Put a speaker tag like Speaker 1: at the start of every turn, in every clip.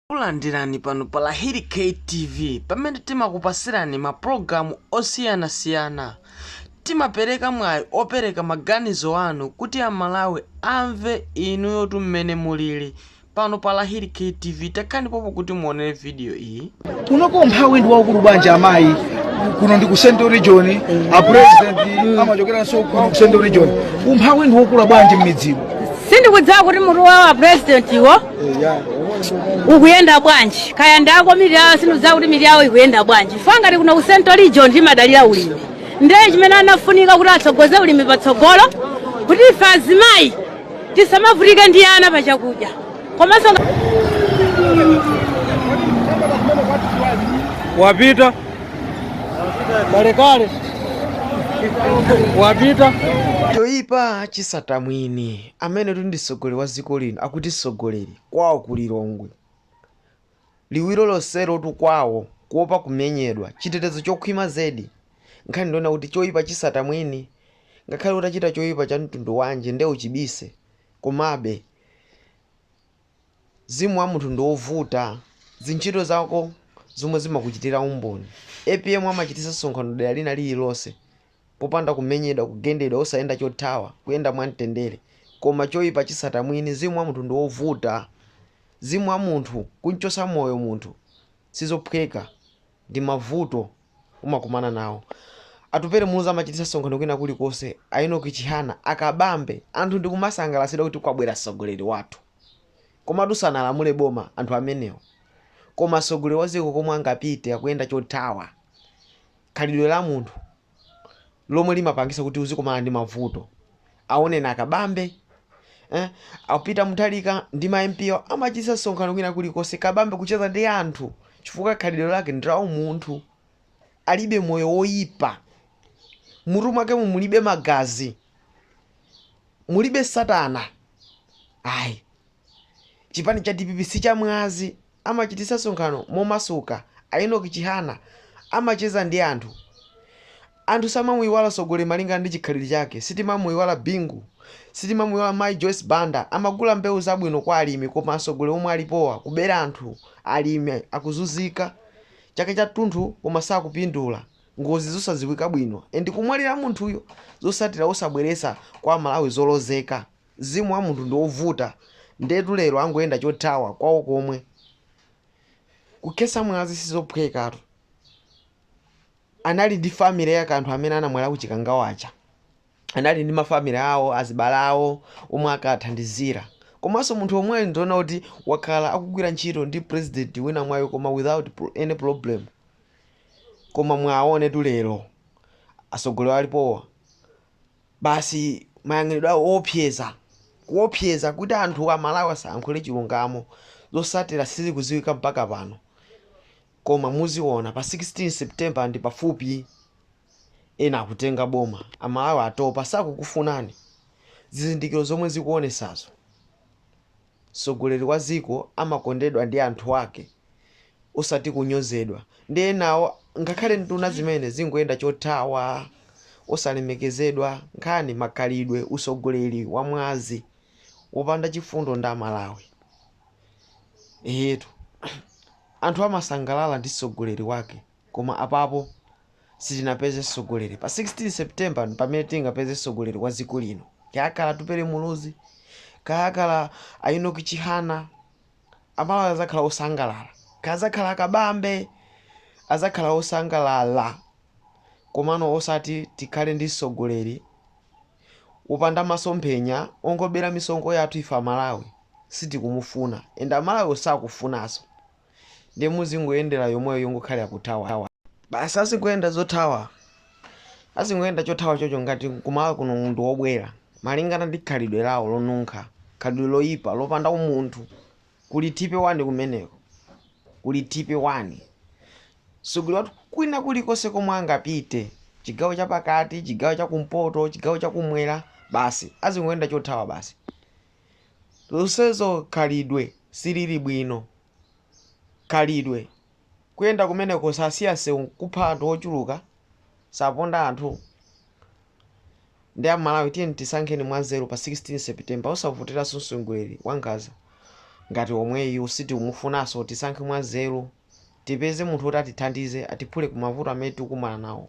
Speaker 1: Takulandirani pano pa Lahiri K TV pamene timakupasirani ma program osiyana siyana. Timapereka mwayi opereka maganizo anu kuti a Malawi amve inuyotu mmene mulili. Pano pa Lahiri K TV takhani pompo kuti muonere video iyi. kunoko umphawi
Speaker 2: ndi waukulu bwanji amayi kuno ndi ku central region a president amachokeranso kuno ku central region umphawi ndi wokula bwanji mmidzimu sindikudziwa kuti
Speaker 3: mutu wawo a president wo ukuyenda bwanji kaya ndako mitu yawo sindidziwa kuti mitu yawo ikuyenda bwanji chifukwa ngati kuno ku central region timadalira ulimi ndiye chimene anafunika kuti atsogoze ulimi patsogolo kuti ife azimayi tisamavutike ndi ana pa chakudya komanso
Speaker 2: nga- wapita kalekale wapita choyipa
Speaker 1: chisata mwini amenetu ndi tsogoleri wa dziko lino akuti tsogoleri kwawo ku Lilongwe liwiro lonselotu kwawo kuopa kumenyedwa chitetezo chokhwima zedi nkhani ndi yonena kuti choipa chisata mwini ngakhale utachita choipa cha mtundu wanji nde uchibise komabe mzimu wa munthu ndi wovuta zintchito zako zomwe zimakuchitira umboni apm amachititsa msonkhano dera lina lililonse popanda kumenyedwa, kugendedwa, osayenda chothawa, kuyenda mwa mtendere, koma choipa chitsata mwini, mzimu wa munthu ndi wovuta, mzimu wa munthu, kumchotsa moyo munthu sizophweka, ndi mavuto umakumana nawo. Atupele Muluzi amachititsa msonkhano kwina kulikonse, a Enoch Chihana, a Kabambe, anthu ndi kumasangalatsidwa kuti kwabwera mtsogoleri wathu. Komatu sanalamule boma anthu amenewo. Koma mtsogoleri wa dziko komwe angapite akuyenda chothawa. khalidwe la munthu lomwe limapangisa kuti uzikumana ndi mavuto awoneni akabambe eh? a peter mutharika ndi ma mp awo amachitisa msonkhano kwina kulikonse kabambe kucheza ndi anthu chifukwa khalidwe lake ndi la umunthu alibe moyo woyipa mutu mwakemo mulibe magazi mulibe satana ayi chipani cha dpp si cha mwazi Amachititsa msonkhano momasuka. A Enock Chihana amacheza ndi anthu. Anthu samamuiwala mtsogoleri malingana ndi chikhalidwe chake. Sitimamuiwala Bingu. Sitimamuiwala Mayi Joyce Banda. Amagula mbewu zabwino kwa alimi koma atsogoleri omwe alipowa kubera anthu, alimi akuzunzika chaka chatunthu koma sakupindula. Ngozi zosadziwika bwino and kumwalira munthuyo zotsatira osabweretsa kwa Amalawi zolozeka. Mzimu wa munthu ndi ovuta ndetu lero angoyenda chothawa kwawo komwe. Kukhesa mwazi sizophwekatu. Anali ndi family yake anthu amene anamwalira ku Chikangawa aja. Anali ndi ma family awo, azibale awo omwe akawathandizira. Komanso munthu yemweyu ndiona kuti wakhala akugwira ntchito ndi president winayu koma without any problem. Koma mwaonetu lero atsogoleri alipowa. basi mayang'anidwe awo oopseza kuopseza kuti anthu amalawi asayankhule chilungamo zosatira sizikuziwika mpaka pano koma muziona pa 16 September ndi pafupi ena akutenga boma amalawi atopa sakukufunani zizindikiro zomwe zikuonesazo. mtsogoleri wa dziko amakondedwa ndi anthu ake osati kunyozedwa ndi enawo ngakhale nduna zimene zingoyenda chothawa osalemekezedwa nkhani makhalidwe utsogoleri wa mwazi wopanda chifundo ndi amalawi eetu anthu amasangalala ndi tsogoleri wake Koma apapo sitinapeze msogoleri pa 16 September mpamene tingapeze msogoleri wa ziko lino kaya akhala Atupele Muluzi kaya akhala a Enock Chihana amalawi azakhala osangalala kaya azakhala akabambe azakhala osangalala komano osati tikhale ndi msogoleri wopanda masomphenya wongobera misonkho yathu ife amalawi sitikumufuna and amalawi sakufunaso. ndiye muzingoyendera yomweyo yongokhalira kuthawa basi azingoyenda zothawa azingoyenda chothawa chocho ngati kumalawi kuno munthu wobwera malingana ndi khalidwe lawo lonunkha khalidwe loyipa lopanda umunthu kuli tipe wani kumeneko kuli tipe wani mtsogoleri wathu kwina kulikonse komwe angapite chigawo chapakati chigawo chakumpoto chigawo chakumwera basi azingoyenda chothawa basi Zonsezo khalidwe silili bwino. Khalidwe, kuyenda kumeneko sasiya msewu nkupha anthu ochuluka, saponda anthu. Nde a Malawi tiyeni tisankheni mwanzeru pa 16 September osavoteraso msogoleri wankhaza ngati omweyu sitikumufunaso tisankhe mwanzeru tipeze munthu oti atithandize atiphule kumavuto amene tikukumana nawo.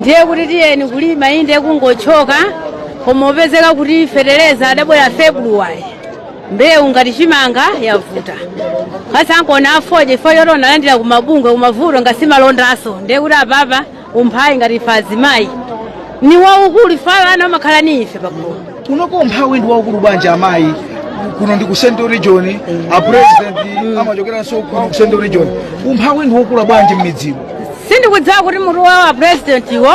Speaker 3: ndiye kuti tiyeni kulima inde kungochoka koma opezeka kuti fetereza adabwera februwari mbewu ngati chimanga yavuta kaya ngakhale afodya ife zoti tinalandira kumabungwe kumavuto ngasimalondaso ndiye kuti apapa umphawi ngati ife azimayi ni waukulu ife ana amakhala ni ife pagulu kunoko umphawi
Speaker 2: ndi waukulu bwanji amayi kuno ndi ku central region a president amachokeranso kuno ku central region umphawi ndi waukulu bwanji m'midzimu sindikudziwa kuti
Speaker 3: mutu wawo a president iwo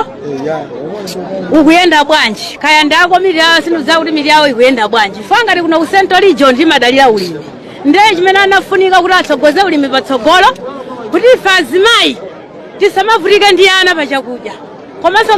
Speaker 3: ukuyenda bwanji kaya ndako mili yawo sindikudziwa kuti mili yawo ikuyenda bwanji ife ngati kuno ku central region timadalira ulimi ndiye chimene anafunika kuti atsogoze ulimi patsogolo kuti ife azimayi tisamavutike ndi ana pa chakudya komanso